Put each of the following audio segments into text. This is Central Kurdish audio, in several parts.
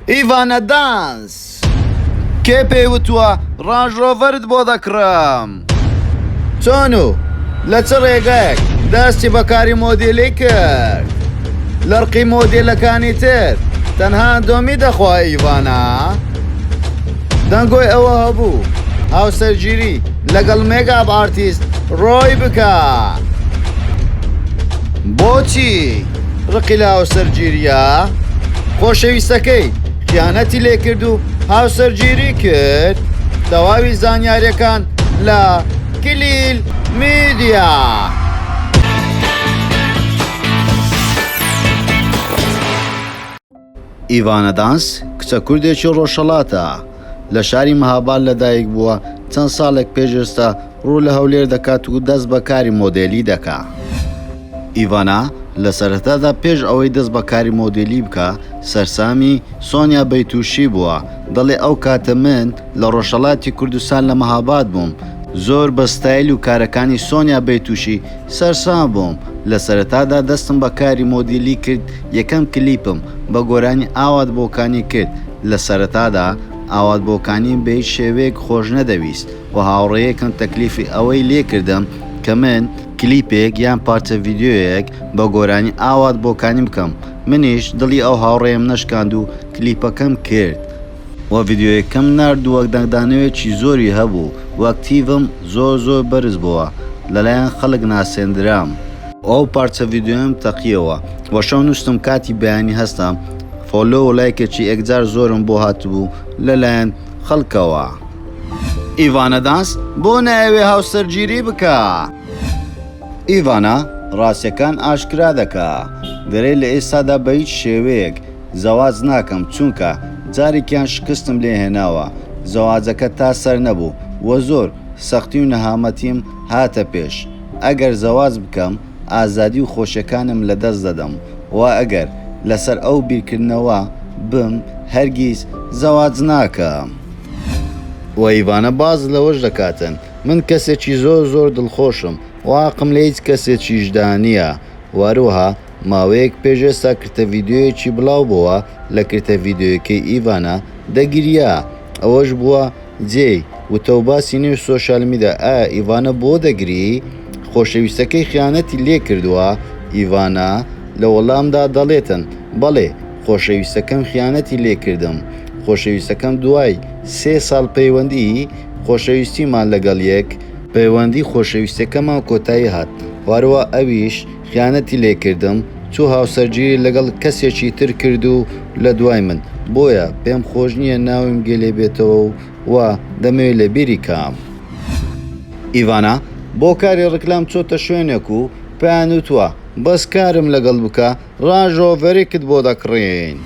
ئیڤانە دانس، کێ پێی وتووە ڕانژ ڕۆڤەرت بۆ دەکڕم؟ چۆن و لە چ ڕێگایەک دەستی بە کاری مۆدێلی کرد؟ لە ڕقی مۆدێلەکانی تر تەنها ئەندۆمی دەخوا ئیڤانە؟ دەنگۆی ئەوە هەبوو هاوسەرگیری لەگەڵ مێگاب ئارتیست ڕۆی بکا. بۆچی؟ ڕقی لە هاوسەرگیریە خۆشەویستەکەی خیانەتی لێکرد و هاوسەرگیری کرد تەواوی زانیارەکان لە کلیل میدیا. ئیڤانا دانس، کچە کوردێکی ڕۆژهەڵاتە، لە شاری مهاباد لەدایک بووە، چەند ساڵێک پێش ئێستا ڕوو لە هەولێر دەکات و دەست بە کاری مۆدێلی دەکا. ئیڤانا لە سەرەتادا پێش ئەوەی دەست بە کاری مۆدێلی بکا، سەرسامی سۆنیا بەیتووشی بووە، دەڵێ ئەو کاتە من لە ڕۆژهەڵاتی کوردستان لە مهاباد بووم، زۆر بە ستایل و کارەکانی سۆنیا بەیتووشی سەرسام بووم لە سەرەتادا دەستم بە کاری مۆدیلی کرد یەکەم کلیپم بە گۆرانی ئاوات بۆکانی کرد لە سەرەتادا ئاوات بۆکانیم بە هیچ شێوەیەک خۆش نەدەویست و هاوڕێیەکم تەکلیفی ئەوەی لێ کردم کە من کلیپێک یان پارچە ڤیدیۆیەک بە گۆرانی ئاوات بۆکانی بکەم منیش دڵی ئەو هاوڕێیەم نەشکاند و کلیپەکەم کرد. وە ڤیدیۆیەکەم نارد وەک دەنگدانەوێکی زۆری هەبوو وەک تیڤم زۆر زۆر بەرز بۆوە لەلایەن خەلک ناسێندرام. ئەو پارچە ڤیدیۆیەم تەقیەوە وە شەو نوستم کاتی بەیانی هەستە فۆلۆ و لایکێکی ێکجار زۆرم بۆ هاتبوو لەلایەن خەلکەوە. ئیڤانا دانس بۆ نایەوێ هاوسەرگیری بکا؟ ئیڤانا ڕاستیەکان ئاشکرا دەکا دەرێ لە ئێستادا بە هیچ شێوەیەک زەواج ناکەم چونکە جارێکیان شکستم لێ هێناوە زەواجەکە تا سەر نەبوو و زۆر سەختی و نەهامەتیم هاتە پێش ئەگەر زەواج بکەم ئازادی و خۆشیەکانم لە دەست دەدەم و ئەگەر لەسەر ئەو بیرکردنەوە بم هەرگیز زەواج ناکەم. و ئیڤانە باس لەوەش دەکاتن من کەسێکی زۆر زۆر دڵخۆشم و ئاقم لە هیچ کەسێکیشدا نیە و هەروەها ماوەیەک پێش ئێستا کرتە ڤیدیۆیەکی بڵاو بۆوە لە کرتە ڤیدیۆیەکەی ئیڤانا دەگریا ئەوەش بووە جێی وتە و باسی نێو سۆشیال میدا ئایا ئیڤانا بۆ دەگری خۆشەویستەکەی خیانەتی لێ کردووە ئیڤانا لە وەڵامدا دەڵێتن بەڵێ خۆشەویستەکەم خیانەتی لێ کردم خۆشەویستەکەم دوای سێ ساڵ پەیوەندی خۆشەویستیمان لەگەڵ یەک پەیوەندی خۆشەویستەکەمان کۆتایی هات هەروا ئەویش. خیانەتی لێ کردم چوو هاوسەرگیری لەگەڵ کەسێکی تر کرد و لە دوای من بۆیە پێم خۆش نییە ناویم گێ لێ بێتەوە و وا دەمەوێ لە بیری کام. ئیڤانا بۆ کاری ڕیکلام چۆتە شوێنێک و پێیان وتووە بەس کارم لەگەڵ بکە ڕاژۆڤەرێکت بۆ دەکڕین.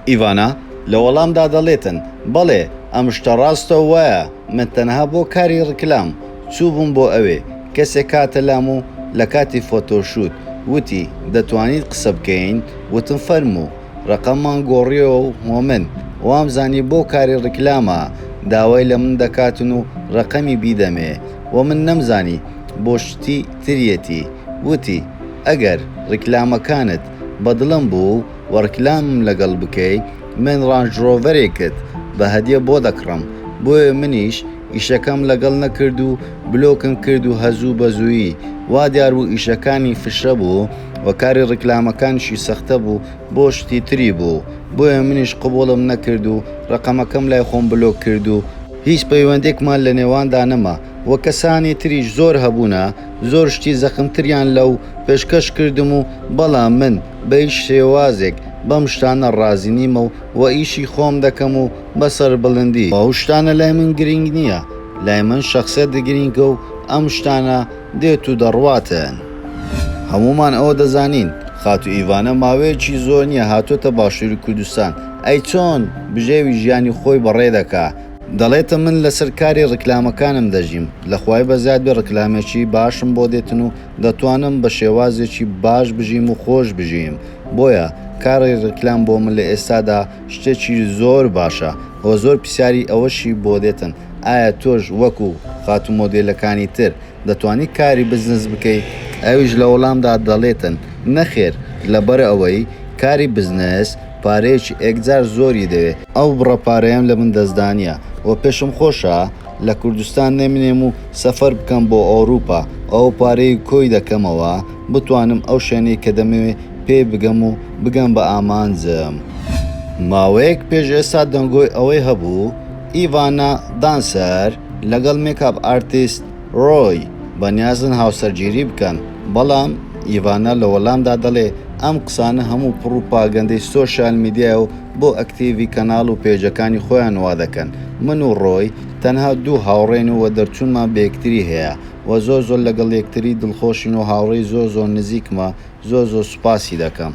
ئیڤانا لە وەڵامدا دەڵێتن بەڵێ ئەم شتە ڕاستە و وایە من تەنها بۆ کاری ڕیکلام چووبووم بۆ ئەوێ کەسێک هاتە لام و لە کاتی فۆتۆ شوت وتی دەتوانین قسە بکەین وتم فەرموو ڕەقەممان گۆڕیەوە و هۆمن وامزانی بۆ کاری ڕیکلامە داوای لە من دەکاتن و ڕەقەمی بیدەمێ و من نەمزانی بۆ شتی تریەتی وتی ئەگەر ڕیکلامەکانت بە دڵم بوو و ڕیکلامم لەگەڵ بکەی من ڕانج ڕۆڤەرێکت بە هەدیە بۆ دەکڕم بۆیە منیش ئیشەکەم لەگەڵ نەکرد و بلۆکم کرد و هەزوو بە زوویی وا دیار بوو ئیشەکانی فشە بوو و کاری ڕیکلامەکانیشی سەختە بوو بۆ شتی تری بوو بۆیە منیش قبوڵم نەکرد و ڕەقەمەکەم لای خۆم بلۆک کرد و هیچ پەیوەندێکمان لە نێواندا نەما. و کەسانی تریش زۆر هەبوونە زۆر شتی زەخمتریان لەو پێشکەش کردم و بەڵام من بە هیچ شێوازێک بەم شتانە ڕازی نیمە و وە ئیشی خۆم دەکەم و بە سەربڵندی. ئەو شتانە لای من گرینگ نییە لای من شەخسیەت گرینگە و ئەم شتانە دێت و دەڕواتن. هەموومان ئەوە دەزانین خاتوو ئیڤانە ماوەیەکی زۆر نییە هاتۆتە باشووری کوردستان ئەی چۆن بژێوی ژیانی خۆی بەڕێ دەکا دەڵێتە من لەسەر کاری ڕیکلامەکانم دەژیم لەخوای بەزیاد بێ ڕیکلامێکی باشم بۆ دێتن و دەتوانم بە شێوازێکی باش بژیم و خۆش بژییم بۆیە کاری ڕیکلام بۆ من لە ئێستادا شتێکی زۆر باشە وە زۆر پسیاری ئەوەشی بۆ دێتن ئایا تۆش وەکو خاتوو مۆدێلەکانی تر دەتوانی کاری بزنس بکەی؟ ئەویش لە وەڵامدا دەڵێتن نەخێر لەبەر ئەوەی کاری بزنس پارەیەکی ئێکجار زۆری دەوێ. ئەو بڕە پارەیەم لە من دەستدانییە و پێشم خۆشە لە کوردستان نەمێنم و سەفەر بکەم بۆ ئەوروپا و ئەو پارەیەی کۆی دەکەمەوە بتوانم ئەو شوێنەی کە دەمەوێ پێی بگەم و بگەم بە ئامانجم. ماوەیەک پێش ئێستا دەنگۆی ئەوەی هەبوو ئیڤانا دانسەر لەگەڵ مێکاپ ئارتیست، ڕۆی، بەنیازن هاوسەرگیری بکەن، بەڵام ئیڤانا لە وەڵامدا دەڵێ، ئەم قسانە هەموو پڕوپاگەندەی سۆشیال میدیایە و بۆ ئەکتیڤی کەناڵ و پەیجەکانی خۆیان وا دەکەن، من و ڕۆی تەنها دوو هاوڕێین و وە دەرچوونمان بەیەکتری هەیە و زۆر زۆر لەگەڵ یەکتری دڵخۆشین و هاوڕێی زۆر زۆر نزیکمە، زۆر زۆر سوپاسی دەکەم.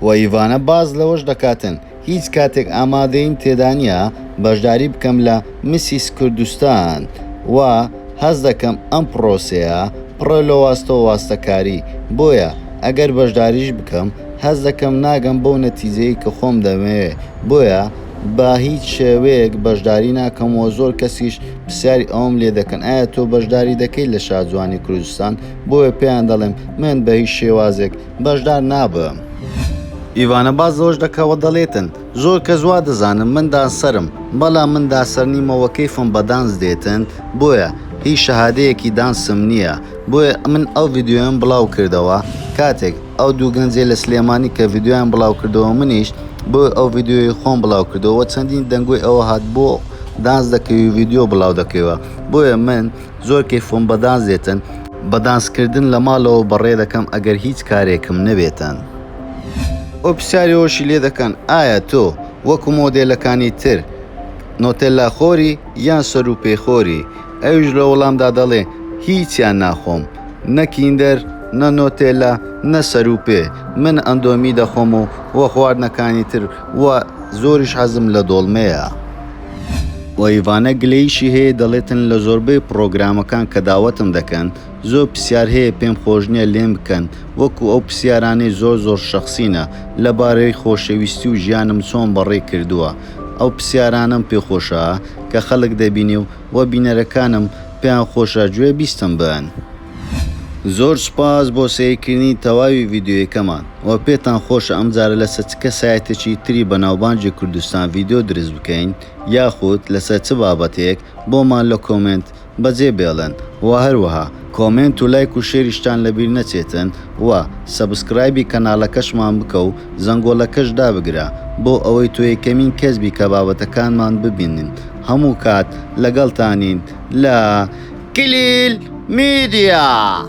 وە ئیڤانا باس لەوەش دەکاتن، هیچ کاتێک ئامادەییم تێدانیە بەشداری بکەم لە مسیس کوردستان و هەست دەکەم ئەم پڕۆسەیە پڕە لەواستەو واستەکاری بۆیە ئەگەر بەشداریش بکەم هەست دەکەم ناگەم بەو نەتیجەی کە خۆم دەمەوێ بۆیە بە هیچ شێوەیەک بەشداری ناکەم و زۆر کەسیش پرسیاری ئەوەم لێ دەکەن ئایا تۆ بەشداری دەکەیت لە شاجوانی کوردستان بۆیە پێیان دەڵێم من بە هیچ شێوازێک بەژدار نابم. ئیڤانە باس لەوەش دەکاوە دەڵێتن زۆر کەس وا دەزانن من دانسەرم بەڵام من داسەر نیمە وە کەیفم بە دانس دێتن بۆیە هیچ شەهادەیەکی دانسم نیە بۆیە من ئەو ڤیدیۆیەم بڵاو کردەوە کاتێک ئەو دوو گەنجەی لە سلێمانی کە ڤیدیۆیان بڵاو کردەوە منیش بۆیە ئەو ڤیدیۆی خۆم بڵاو کردەوە وە چەندین دەنگۆی ئەوە هات بۆ دانس دەکەی و ڤیدیۆ بڵاو دەکەیوە بۆیە من زۆر کەیفم بە دانس دێتن. بە دانس کردن لە ماڵەوە بەڕێ دەکەم ئەگەر هیچ کارێکم نەبێتن. ئەو پرسیاری ئەوەشی لێ دەکەن ئایا تۆ وەکو مۆدێلەکانی تر نۆتێللا خۆری یان سەرو پێی خۆری ئەویش لە وەڵامدا دەڵێ هیچیان ناخۆم نە کیندەر نە نۆتێللا نە سەرو پێ من ئەندۆمی دەخۆم و خواردنەکانی تر و زۆریش حەزم لە دۆڵمەیە. و ئیڤانە گلەییشی هەیە دەڵێتن لە زۆربەی پڕۆگرامەکان کە داوەتم دەکەن زۆر پسیار هەیە پێم خۆش نیە لێم بکەن وەکو ئەو پسیارانەی زۆر زۆر شەخسینە لە بارەی خۆشەویستی و ژیانم چۆن بەڕێ کردوە ئەو پسیارانەم پێ خۆشە کە خەلک دەبینێ و وە بینەرەکانم پێیان خۆشە گوێ بیستم بن. زۆر سوپاس بۆ سەیرکردنی تەواوی ڤیدیۆیەکەمان وە پێتان خۆشە ئەم جارە لەسە چ کەسایەتێکی تری بەناوبانگی کوردستان ڤیدیۆ دروست بکەین یاخود لەسەر چ بابەتێک بۆمان لە کۆمێنت بەجێ بێڵن وە هەروەها کۆمێنت و لایک و شێریشتان لەبیر نەچێتن وە سەبسکرایبی کەناڵەکەشمان بکە و زەنگۆڵەکەش دابگرە بۆ ئەوەی تۆ یەکەمین کەس بی کە بابەتەکانمان ببینن هەموو کات لەگەڵتانین لە کلیل میدیا.